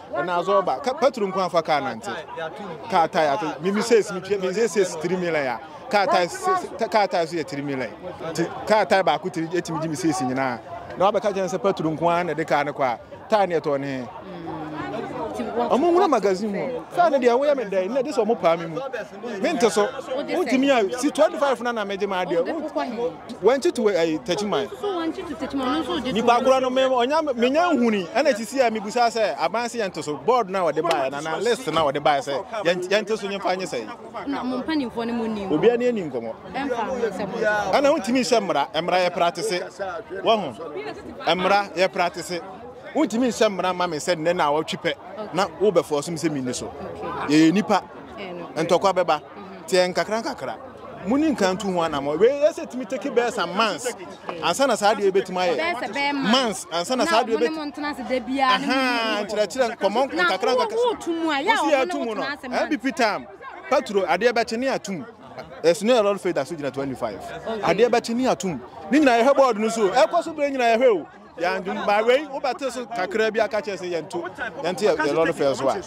ɛna azɔ ɔba pɛtro nko afa kaa nante kaa tae ato mimi sɛ ɛsimi twɛ mimi sɛ ɛsɛ ɛsi tiri mila ya kaa tae kaa tae so yɛ tiri mila ti kaa tae baako tiri ɛtumi gyi mi sɛ ɛsi nyinaa na wabɛka kyɛn sɛ pɛtro nko ara na ɛde kaa ne kɔ a tae ne ɛtɔ ne ɔmo nwura magazine mu saa ne deɛ woyɛ me dɛn na ɛde sɛ ɔmo paa me mu mente so wontumi a si 25 na na megye ma adeɛ Wɔnkyeto eh, takyiman. So wɔnkyeto takyiman no nso gye to. Nipa korɔ no me ɔnya menya nhuni ɛna ti si a mebusa sɛ aban sɛ yɛnto so board na wɔde baeɛ na na list na wɔde baeɛ sɛ yɛnto so nyɛmfa nyɛ sɛ yi. Na mo mpanimfoɔ no mo ni mu. Obiara ni ani nkɔmɔ. Ɛmfa ho sɛ mo. Ɛna wontumi nhyɛ mmara mmara yɛ pratese wɔ ho mmara yɛ pratese wontumi nhyɛ mmara ma me sɛ nnɛ na wɔtwe pɛ na wobɛfɔ so me sɛ menni so yɛyɛ nipa ntɔkwa bɛba. Tiɛ nkakra nkakra. Muni nka ntu ho anamɔ. Wei yɛ sɛ tumi take bɛyɛ some months. Ansa na saa deɛ bɛtumi ayɛ. Bɛyɛ sɛ bɛyɛ months. Months. Ansa na saa deɛ bɛtumi. Na wɔn ntena ase da biara. Ahaa nkyerɛkyerɛ nkɔmɔ nkakra nkakra. Na wɔn tu mu a. Yɛ a wɔn tu mu no. MPP time. Patro adeɛ bɛkye ne atum. Ɛsi ne ɛlɔri fɛ da so gyina 25. Adeɛ bɛkye ne atum. Ne nyinaa yɛhwɛ bɔɔdo no so. Ɛkɔ so bere nyinaa yɛhwɛ o. Yɛn dwom by wei wobɛte so kakra bi aka kyerɛ sɛ yɛnto yɛnte yɛ lɔre fɛ so a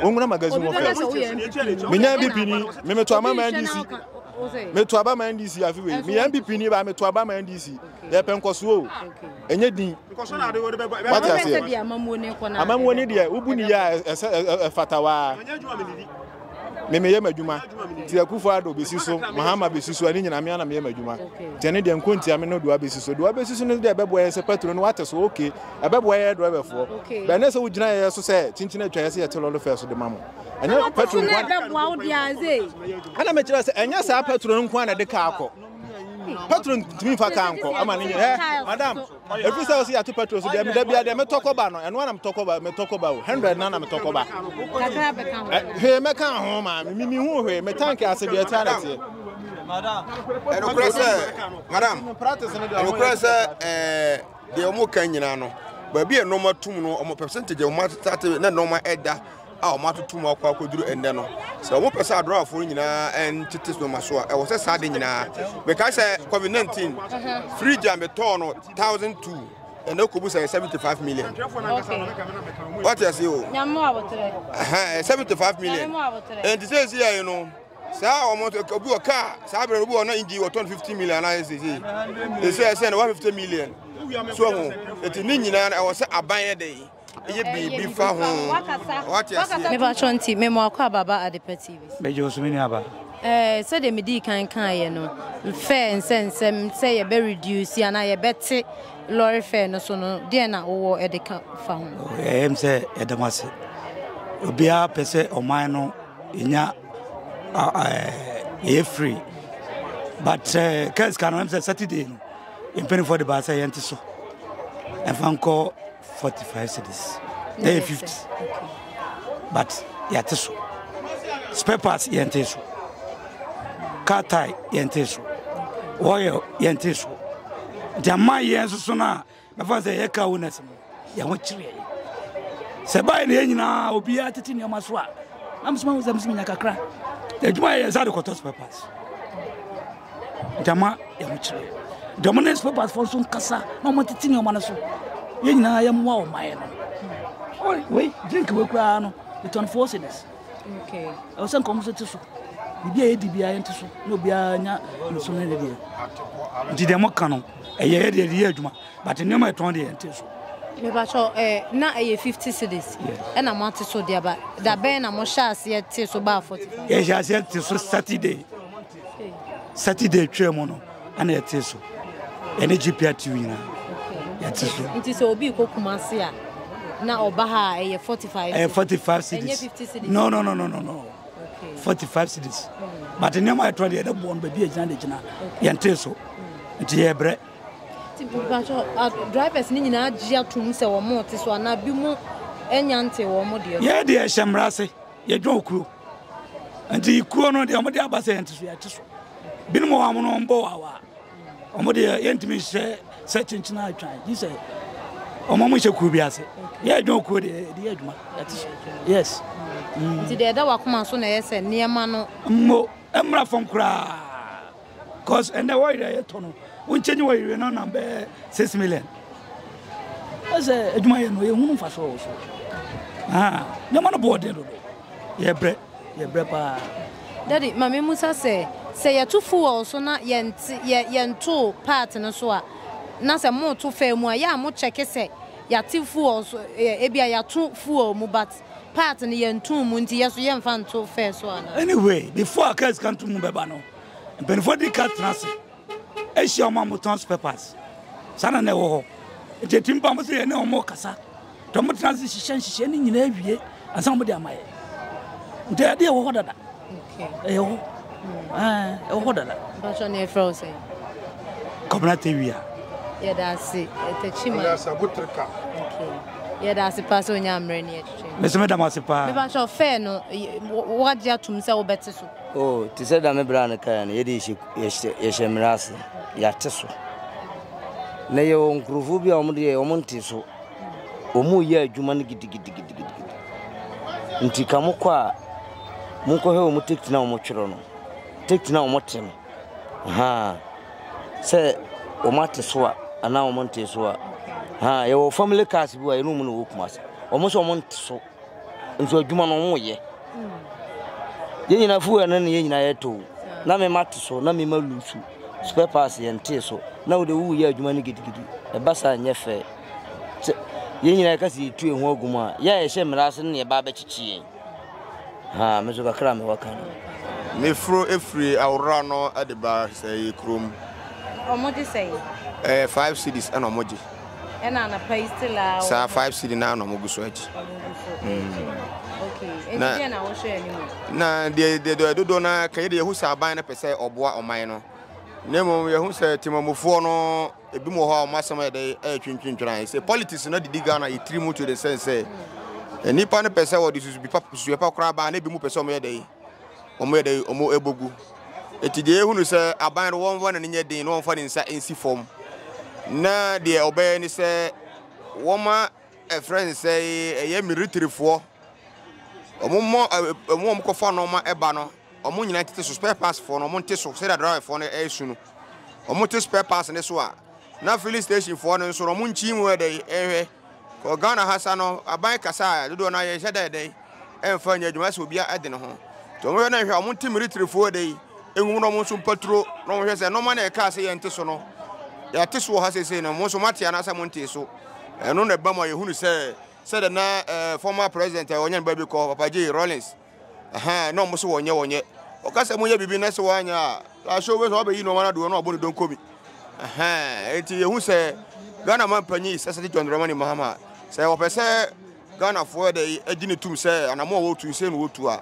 wonwura magazine wɔ fɛ menya bi pini memeto ama ma ndc meto aba ma ndc afi wei meyɛ bi pini ba meto aba ma ndc yɛpɛ nkɔsoɔ o ɛnyɛ din wate aseɛ amamuo ne deɛ wobu ne yɛ a ɛfata waa me meyɛ m'adwuma nti akufo ado bɛsi so mahama bɛsi so ɛne nyina mea na meyɛ m'adwuma nti ɛne deɛ nko ntia me no doa bɛsi so doa bɛsi so no deɛ ɛbɛboa yɛ sɛ patro no wate so oke ɛbɛboa yɛ drɛbɛfoɔ bɛɛ ne sɛ wogyina yɛ so sɛ kyinkyin atwa yɛ sɛ yɛte lɔlo fɛ so de ma mo ɛnyɛ patro nko ana mekyerɛ sɛ ɛnyɛ saa patro no nko ana de kaa kɔ patro ntumi mfa kaa nkɔ ama ne nyɛ madam ɛfiri sɛ ɔsi yɛato petro so deɛ meda bia deɛ metɔ kɔba no ɛno ara na metɔ kɔba metɔ kɔba o hundred na na metɔ kɔba hwee mɛka ho ma me mimi hu hwee me tank ase deɛ ɛte ana teɛ ɛnokorɛ sɛ madam ɛnokorɛ sɛ ɛɛ deɛ wɔn ka nyinaa no baabi a nneɛma tum no wɔn percentage wɔn atate na nneɛma ɛda a wɔatoto mu akɔ akɔduru ɛnnɛ no, sɛ wɔpɛ sɛ adorɔafoɔ no nyinaa ntete nneɛma so a, ɛwɔ sɛ saa de nyinaa. Mekae sɛ COVID-19, fridge a metɔɔ no thousand two ɛnɛ kɔbu sɛ 75 million wate ase o 75 million ɛnti sɛ ɛsi yɛi no saa ɔmo obi wɔ kaa saa berɛ no obi wɔ na engine wɔtɔn 50 million anaasɛ sɛsei ɛsɛ ɛsɛ na 150 million so ho ɛti ne nyinaa ɛwɔ sɛ aban yɛ dɛn Yɛ biribi fa ho. Wate aseɛ? Mepakyɛ nti me moakɔ aba ba Adepa TV so. Megyee wo so me nua ba. Eh, sɛdeɛ medii kan kaeɛ no, fare nsɛnsɛm sɛ yɛbɛ reduce anaa yɛbɛte lɔre fare no so no, deɛn na wowɔ de ka fa ho? Oh, ɛyɛ m sɛ yɛda mo ase. Obiara pɛ sɛ ɔman no ɛnya ɛyɛ free but sɛ eh, kɛs ka no ɛm sɛ Saturday no mpanimfoɔ de baa sɛ yɛnte so ɛmfa nkɔ Forty five cedis ɛyɛ fifty but yɛate so spare parts yɛnte so car tire yɛnte so oil yɛnte so nti ama yɛn nso so no a bɛfa sɛ yɛka wo nɛs no yɛn ho kyereɛ sɛ bae ne yɛ nyinaa obiara tete nneɛma so a na mesoma wo sɛ mesomenya kakra adwuma yɛ yɛ sɛ de kɔtɔ spare parts Gyama yɛ ho kyerɛ. Gyama ne nspɛpas fɔ nso nkasa na ɔmo titi nneɛma no so. Yɛn nyinaa yɛ mmoa ɔma yɛ no. Oi wei drink wei koraa no it's on four cities. Okay. Ɛwɔ sɛ nkɔm so ti so. Bibi a yɛdi biara yɛn ti so na obiara nya nso ne ne deɛ. Nti deɛ mo ka no ɛyɛ yɛ deɛ yɛ adwuma but nneɛma ɛtɔn deɛ yɛn ti so. Mebakyɛ ɛɛ na ɛyɛ fifty cities. Ɛna mo ate so deɛ ba dabɛn na mo hyɛ aseɛ te so baa forty. Yɛ hyɛ aseɛ te so Saturday. Saturday atwa mu no ana yɛte so ɛne GPA tiw nyinaa yɛte so. Nti sɛ obi kɔ Kumasi a na ɔba ha a ɛyɛ forty five. Ɛyɛ forty five cedis. Ɛnyɛ fifty cedis. No no no no no no. Okay. Forty five cedis. Hmm. But nneɛma yɛtɔ deɛ ɛdɛ bɔn baabi agyina de gyina yɛn te so hmm. nti yɛ brɛ. Ti bàtɔ drivers ni nyinaa gye atum sɛ wɔn te so anaa bi mu ɛnya nte wɔn deɛ. Yɛ deɛ ɛhyɛ mmara ase. Yɛdwɔn kuro nti kuro no deɛ wɔde aba sɛ yɛnte so yɛte so binom wɔ wɔn no wɔbɔ wawa wɔn deɛ yɛntumi nhyɛ sɛ kyenkyen atwan gye sɛ wɔn a wɔhyɛ kuro bi ase yɛdwɔn kuro deɛ yɛde yɛ adwuma yɛte so yes nti deɛ ɛda wakoma so na ɛyɛ sɛ nneɛma no mmo mmra fam koraa cause ɛnɛ wɔyere a yɛtɔ no wonkyɛ nye wɔyere no nam bɛyɛ six million ɛsɛ adwuma yɛ no yɛhunu mfa so wɔ so ah, nneɛma no boɔden dodo yɛbrɛ yɛbrɛ paa dade ma me musa sɛ sɛ yɛto fuel so na yɛntoo part no so a na sɛ moto faa mu a yɛ a mokyɛke sɛ yɛate fuel so ebi a yɛato fuel mu but part no yɛntom mu nti yɛ so yɛmfa nto faa so ana anyway before a cars kanto mu bɛba no Mpanyinfoɔ di kan tena ase hyia wɔn a wɔtɔn spɛpas. Saa na na ɛwɔ hɔ. Nti ɛtumi ba mo sɛ yɛne wɔn rekasa. Nti wɔn tena ase hyehyɛ nhyehyɛ no nyinaa wie ansa wɔn de ama yɛ. Nti ɛde ɛwɔ hɔ dada. Ɛyɛ hɔ. Ɛwɔ hɔ dada. Bàtchɔ na ɛfrɛ wo sɛ. Kɔmina Tewia. Yɛda ase ɛtɛkyi ma. Yɛda ase abotirika. Yɛda ase paa sɛ onyaa mmerɛ ne ɛtwitwe. Mese meda mo ase paa. Mebàtchɔ fɛɛ no wɔagye atum sɛ wobɛte so. O, te sɛ dame bere a no kae no, yɛde yɛhyɛ mmere ase, yɛate so. Na yɛwɔ nkurɔfoɔ bi a wɔn deɛ wɔn nte so, wɔn reyɛ adwuma no gidigidigidigidi. Nti ka mo kɔ a, monkɔhwɛ wɔn tekiti na wɔn twerɛ no, tekiti na wɔn te no, ha, sɛ wɔn ate so a, anaa wɔn nte so a. Ha, yɛwɔ family cars bi a yɛne wɔn na ɛwɔ Kumasi, wɔn nso wɔn nte so. Nso adwuma no wɔn yɛ. Yɛn nyinaa fuel no na yɛn nyinaa yɛ tow. Na me ma te so, na me ma lusu. Spare parts yɛn tee so. Na wode wuwu yɛ adwuma no gidigidi. Ɛba saa nyɛ fɛ. Sɛ yɛn nyinaa yɛka sɛ yɛtu yɛn ho agu mu a, yɛ a yɛhyɛ mmara ase no na yɛba abɛkyekye yɛn. Ha, me nso kakra a mewɔ ka no. Meforo firi Awora no de ba sɛɛ kurom. Wɔgye sɛn? Ɛyɛ five cedis na wɔgye. ɛna anapa yi still a. saa five cd naa na ɔmo gu so agye. na deɛ deɛ deɛ dodoɔ no ara kɛyɛ deɛ yɛhu sɛ aban no pɛ sɛ ɔboa ɔman no na mmom yɛhu sɛ temamufoɔ no ebi mu wɔ hɔ a wɔn asɛm yɛ dɛ ɛyɛ twentwentwene ayɛ sɛ politics no didi ghana yɛ tiri mu to de sɛn sɛ nnipa no pɛ sɛ wɔde susu bi pa susu pa koraa baa na ebi mu pɛ sɛ wɔn yɛ dɛ wɔyɛ dɛ wɔbɔ gu. Enti deɛ yɛhunu sɛ aban no wɔmfa n'ani nyɛ den na wɔmfa ne nsa nsi fam. Na deɛ ɔbɛyɛ ne sɛ wɔma ɛfrɛ ne sɛ ɛyɛ militarifoɔ. Wɔmmɔ wɔn wɔn kɔfa nneɛma ɛba no. Wɔn nyinaa tete so spare parts foɔ no wɔn nte so sɛdeɛ driverfoɔ no ɛresu no. Wɔn te spare parts no so a na filling station foɔ no nso wɔn nkyi mu yɛ dɛ ɛhwɛ. Wɔ Ghana ha sa no, aban kasa a dodoɔ no ara yɛnhyɛ da yɛ dɛn ɛmfa nyɛ adwuma sɛ obiara ɛde ne ho. Nti wɔn hwɛ na nhwɛ a wɔn nte Meritrifoɔ ɛdɛ yi ɛnwom na wɔn nso mpa turo na wɔn hwɛ sɛ nnoɔma na yɛkaa sɛ yɛnte so no yɛate so wɔ ha seesei no mo nso moate anaasɛ mo ntee so. Ɛno na ɛba ma yɛhunu sɛ sɛdeɛ na eh, former president a wɔnyɛ no baabi kɔ Papa J. Rawlings Ahaa na ɔmo se wɔnyɛ wɔnyɛ. Ɔka sɛ monyɛ biribi na se wɔanyɛ a lahyɛ obehu sɛ wabɛyi nnoɔma no adodoɔ na wabɔ ne donko bi. Ahaa nti yɛhu sɛ Ghana mampanyin His Excellency John Dramani Mahama sɛ ɔpɛ sɛ Ghanafoɔ ɛdɛ agye ne tum sɛ anamɔ a wɔtu nsei na wɔtu a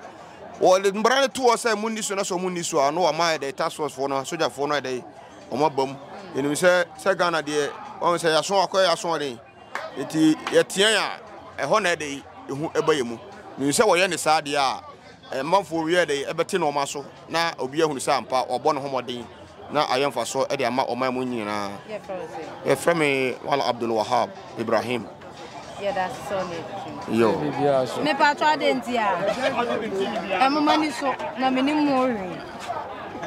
wɔde mbra no to hɔ sɛ monni so na sɛ ɔmo nni so a na wɔama ɛdɛ task force foɔ no asogyafoɔ no ɛdɛ ɔmo abam yɛnim sɛ sɛ Ghana deɛ wɔn sɛ yɛaso akɔyɛ asoɔden. Enti yɛteɛn a, ɛhɔ na ɛde ehu ba yɛn mu. Minim sɛ wɔyɛ no saa deɛ a, amanfoɔ wiɛ de ɛbɛte nnoɔma so na obiara ahunu sɛ ampa wɔabɔ ne ho mmɔden na ayɛ mfasoɔ de ama ɔman mu nyinaa. Yɛfrɛ me Wala Abdul Wahab Ibrahim. Yo. Mepatɔ adɛn nti a ɛmoma ni so na menim mu hwee.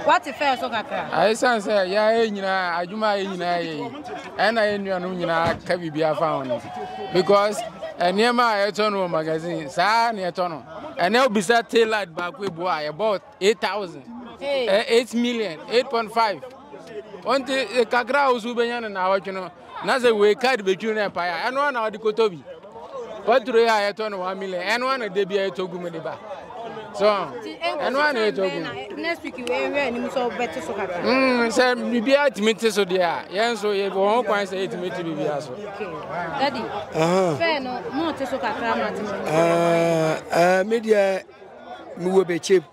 Wate fɛɛ so kakra. Ɛsiane sɛ yɛayɛ nyinaa adwuma a yɛ nyinaa yɛ yi ɛna yɛ nuanom nyinaa ka biribiara fa ho no because nneɛma a yɛtɔ no wɔ magazine saa na yɛtɔ no ɛnɛ wobisa tailad baako ebu a yɛbɔ eight thousand eh, eight million eight point five ɔnti eh, kakra a wosu wobɛnya no na awɔtwe no na sɛ wei card bɛtwi no ɛpae a ɛno a na wɔde kɔtɔ bi Patro yi a yɛtɔ no one million ɛno a na da bia yɛtɔ gu mu de ba so ɛno a na yɛtɔ gu mu. next week wei hwɛ anim sɛ wobɛte so kakra. Mm, sɛ biribiara tumi te so deɛ a yɛn nso yɛwɔ ho kwan sɛ yɛtumi te biribiara so. dadi fɛ no mote so kakra ma te so. Ah, ah, media, me wɔ bɛkyɛm.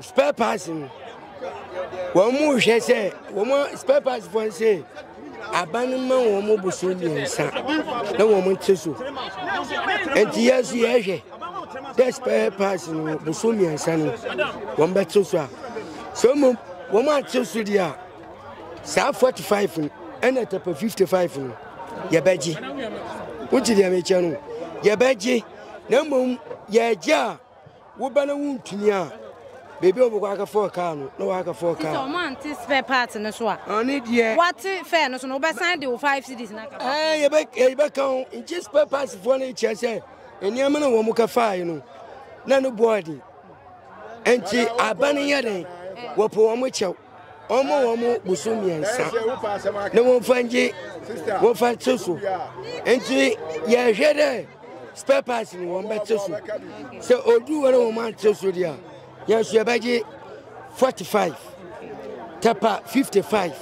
spare parts no wɔn mu hwɛ sɛ wɔn spare parts fo sɛ aban no ma wɔn mu boso mmiɛnsa na wɔn nte so nti yɛ nso yɛhwɛ dɛ spare parts no boso mmiɛnsa no wɔn bɛte so a sɛ wɔn wɔn ate so deɛ a saa forty five no ɛna tɛpɛ fifty five no yɛbɛgye wogye deɛ mekyɛ no yɛbɛgye na mmom yɛagye a Wo ba na wontumi a, baabi a wɔbɛkɔ aka fɔɔ kaa no na wɔaka fɔɔ kaa. Sɛ wɔn ante spare part no so a. Ɔne deɛ. Wɔte fɛɛ no so no wɔbɛsan de wo five cities na aka. Ɛɛ yɛbɛ yɛbɛka ho nkyɛ spare parts foɔ no kyerɛ sɛ nneɛma na wɔn ka faae no na no bɔɔden. Nti aban yɛ dɛn wɔpɔ wɔn kyɛw. Wɔmmɔ wɔn bosom mmiɛnsa na wɔmfa ngye wɔmfa nte so. Nti yɛhwɛ dɛ spare parts no wɔn bɛte so. Sɛ odu hɔ na wɔn ante so deɛ a, yɛn nso yɛbɛgye 45 tɛpa 55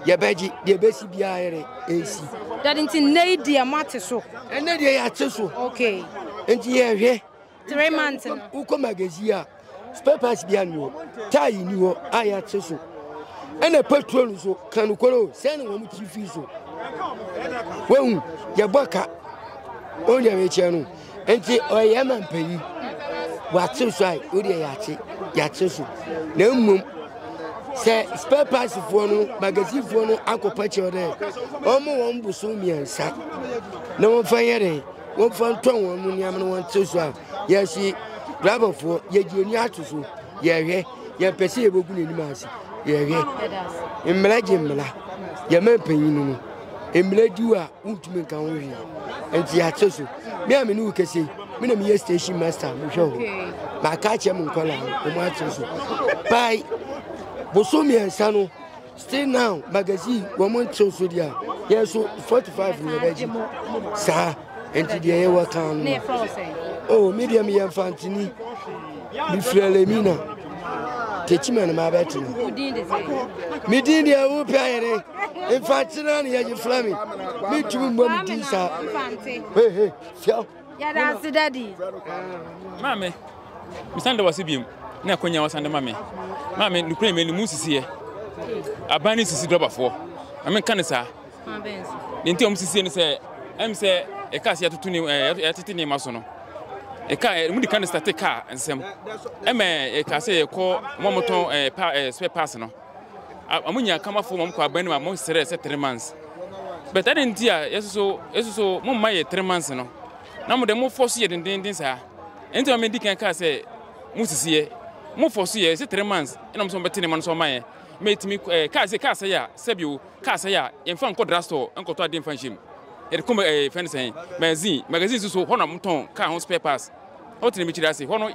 yɛbɛgye deɛ ɛbɛsi biara yɛrɛ ɛnsi. Dade nti nnɛ yi deɛ moate so? Ɛnnɛ deɛ yɛate so. Okay. Nti yɛhwɛ Three months no. Wokɔ magazine a spare bi ani hɔ tae ni hɔ a yɛakye so ɛna petrol nso ka nokorɛ o sɛ ne wɔn kyi fii so wahu yɛbɔ ka ɔhu deɛ mekyɛ no nti ɔyɛ ma mpanyi wakye so a wodeɛ yɛakye yɛakye so na mmom sɛ spare parts foɔ no magazine foɔ no akɔpa kyerɛ dɛ wɔn wɔn boso mmiɛnsa na wɔmfa yɛ dɛn wɔmfa ntɔ wɔn mu nneɛma no wɔn tiri so a yɛsi driverfoɔ yɛgye ani ato so yɛhwɛ yɛmpɛ sɛ yɛbɛgu n'anim ase yɛhwɛ mmara gye mmara yɛma mpanyin no mmara di a wontumi nka ho hwee nti yɛate so me a me ne wo kɛsɛ me na meyɛ station master mehwɛ hɔ maaka akyɛ mo nkɔla wɔn akyɛ so bae boso mmiɛnsa no Still Now magazine wɔn nkyerɛw so deɛ yɛn so forty five na yɛbɛgye saa nti deɛ yɛwɔ kan no oh me deɛ meyɛ mfantini mefiri alamina tekyima no mabɛtena medin deɛ wopɛ ayɛdɛ mfantena ne yɛgye fra me mentumi mmɔ medin saa hehe siaw Yɛda ase dadi. Maame, mesan da wase biom na akonya wasan de ma me. Maame, nukure me mu sisiɛ. Aban ne sisi dɔbafoɔ. Maame nka ne saa. Ne nti ɔmo sisiɛ ne sɛ, ɛm sɛ ɛka sɛ yɛtoto ne yɛtete nneɛma so no. Ɛka ɛ mo di ka ne state car nsɛm. Ɛmɛ ɛka sɛ yɛkɔ mo motɔn ɛ pa ɛ spare parts no. Wɔn nyinaa kama fam a wɔkɔ aban no mu a wɔsrɛ sɛ three months. But adɛn nti a yɛsoso yɛsoso mo mma yɛ three months no? Na mo de mo fɔ so yɛ dendenden saa. Ɛno nti ma medi kan kaa sɛ mo sisi yɛ. Mo fɔ so yɛ sɛ three months ɛna mo sɛ wɔbɛte ne ma no so ama yɛ. Mɛtumi ɛɛ eh, kaa sɛ kaa sɛ a sɛbi o kaa sɛ a yɛmfa nkɔ drugstore nkɔtɔ adeɛ mfa nhyɛ mu. Yɛde kɔ ɛɛ eh, fɛn sɛn magazine magazine soso hɔ na mo tɔn kaa ho spare parts. Ɔ tena mikyiri ase hɔ no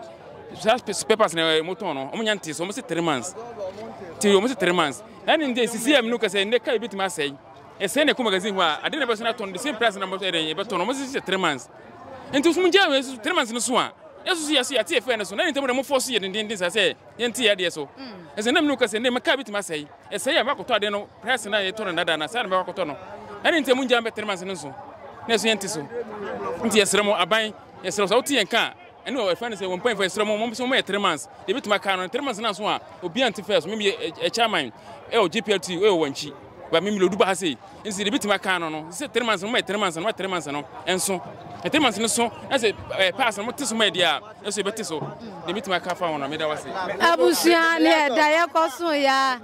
saa spɛpas na ɔmo tɔn no ɔmo nya nte so ɔmo se three months ti ɔmo se three months ɛne nde sisi ɛmu no kɛsɛ nde ka ebi tuma asɛe ɛsɛn na ɛkɔ magazine hɔ a ade na ɛbɛ so na tɔn the same price na ɛdɛn ɛbɛ tɔn ɔmo se sɛ three months nti ɔmo gya wɔ ɛso three months no so a ɛso so yɛ so yɛte ɛfɛ no so na ne ntɛm na ɔmo fɔ so yɛ dendenden sa sɛ yɛnte yɛ adeɛ so ɛsɛ nam no kɛsɛ nde mɛka ebi tuma asɛe ɛsɛe a bakɔtɔ ade no price na yɛtɔ no dada na saa na bɛbakɔtɔ no ɛne ntɛm gya mbɛ three months no so na ɛso yɛnte so nti yɛsrɛ mo aban Yɛsrɛ wo sɛ wote yɛn nka a, ɛne wɔ ɛfɛ ne sɛ wɔn mpanyinfoɔ yɛsrɛ mo wɔn sɛ wɔn yɛ three months deɛ ebi tuma aka no three months na so a obi ante fɛs wɔn yɛ ɛ chairman ɛ wɔ GPLT ɛ wɔ wɔn akyi ba mi mi lɛ odu ba ha sei nsi deɛ ebi tuma aka no no sɛ three months no wɔn yɛ three months no wɔn three months no nso ɛ three months no so na sɛ ɛ pass no wɔn te so mɛ deɛ a ɛso ebe te so deɛ ebi tuma aka fa wɔn na mi da wɔ se. Abusua ne ɛda yɛ kɔ so ya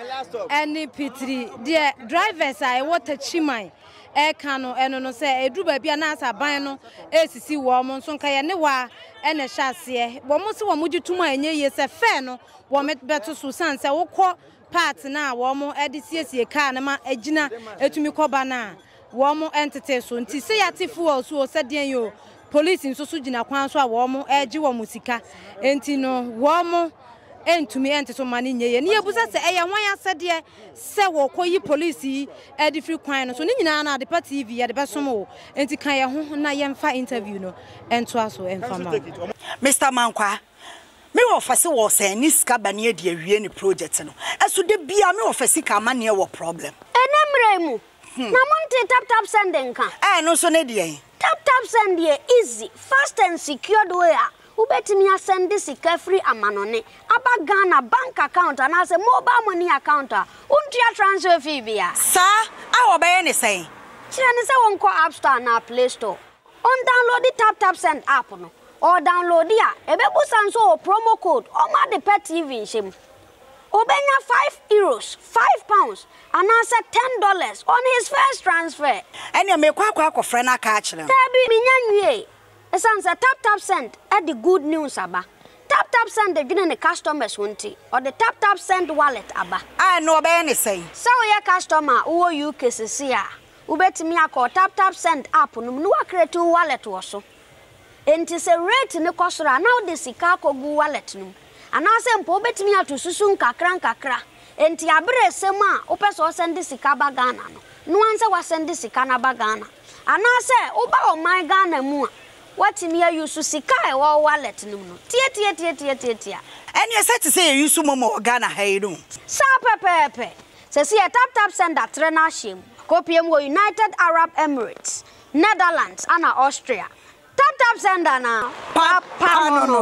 ɛne pitiri deɛ drivers a ɛwɔ takyiman ɛka no ɛno no sɛ ɛduru baabi a na asɛ aban no ɛresisi wɔn nso nka yɛ ne waa ɛna ɛhyɛ aseɛ wɔn se wɔn gye tom a ɛnyɛ yie sɛ fɛɛ no wɔn bɛto so sane sɛ wokɔ paati no a wɔn ɛde siesie kaa no ma ɛgyina ɛtumi kɔba no a wɔn ɛntetee so nti sɛ yɛate fuel so o sɛ deɛn o Police nso so gyina kwan so a wɔn regye wɔn sika nti no wɔn ntumi nte so mma no nyɛ yie. Ne yɛbusa sɛ ɛyɛ hwan asɛdeɛ sɛ wɔkɔyi police yi de firi kwan no so. Ne nyinaa no Adepa TV yɛde bɛsom wo nti ka yɛn ho na yɛmfa interview no ntoa so mfa ma wo. Mister Mankwaa, me wɔfa se wɔsɛn ne sika ba ne adi awie ne project no ɛso da biaa me wɔfa sika amaneɛ wɔ problem. Ɛnɛ mmerɛ yi mu na mo ntee tap tap send nka. Ɛɛ ɛno nso ne deɛn. Tap Tap Send yɛ easy, fast and secured way a wobɛtumi asɛnde sika firi amanɔne aba Ghana bank account anaasɛ mobile money account a wontua transfer fee bia. Saa a wɔbɛyɛ ne sɛn? Kyerɛ no sɛ ɔnkɔ App Store anaa Play Store, ɔndownloadi Tap Tap Send app no, ɔredownloadi a, ɛbɛbusa nso ɔwɔ promo code, ɔmma ade pa TV nhyɛ mu. Obenya five euros, five pounds, anaasɛ ten dollars on his first transfer. Ɛnneɛ merekɔ akɔ akɔfrɛ no aka akyerɛ no. Dabi, menya nwiei. Esiane sɛ TapTapSend de good news aba, TapTapSend dwene ne customers ho nti, ɔde TapTapSend Wallet aba. A, ɛnneɛ wɔbɛyɛ no sɛn? Sɛ woyɛ customer a wowɔ UK seesei a, wobɛtumi akɔ TapTapSend app no mu na woacreate wo wallet wɔ so. Enti sɛ rate no kɔ soro a, na wode sika akɔgu wallet no mu. Anaasɛ mpo wobɛtumi ato susu nkakrankakra. Enti aberɛ resa mu a wopɛ sɛ wosɛnde sika ba Ghana no, noa nsɛ woasɛnde sika no aba Ghana. Anaasɛ woba ɔman Ghana mu a, woatumi a use sika a ɛwɔ wo wallet no mu no. Tiatiatiatiatiatia. Ɛneɛ sɛ te sɛ yɛ use momo wɔ Ghana ha yi no. Saa pɛpɛɛpɛ. Seesei yɛ taptapsend atrɛ no ahyɛ mu. Akɔpue mu wɔ United Arab Emirates. Netherlands ana Austria. Tap tap sender na papa no no.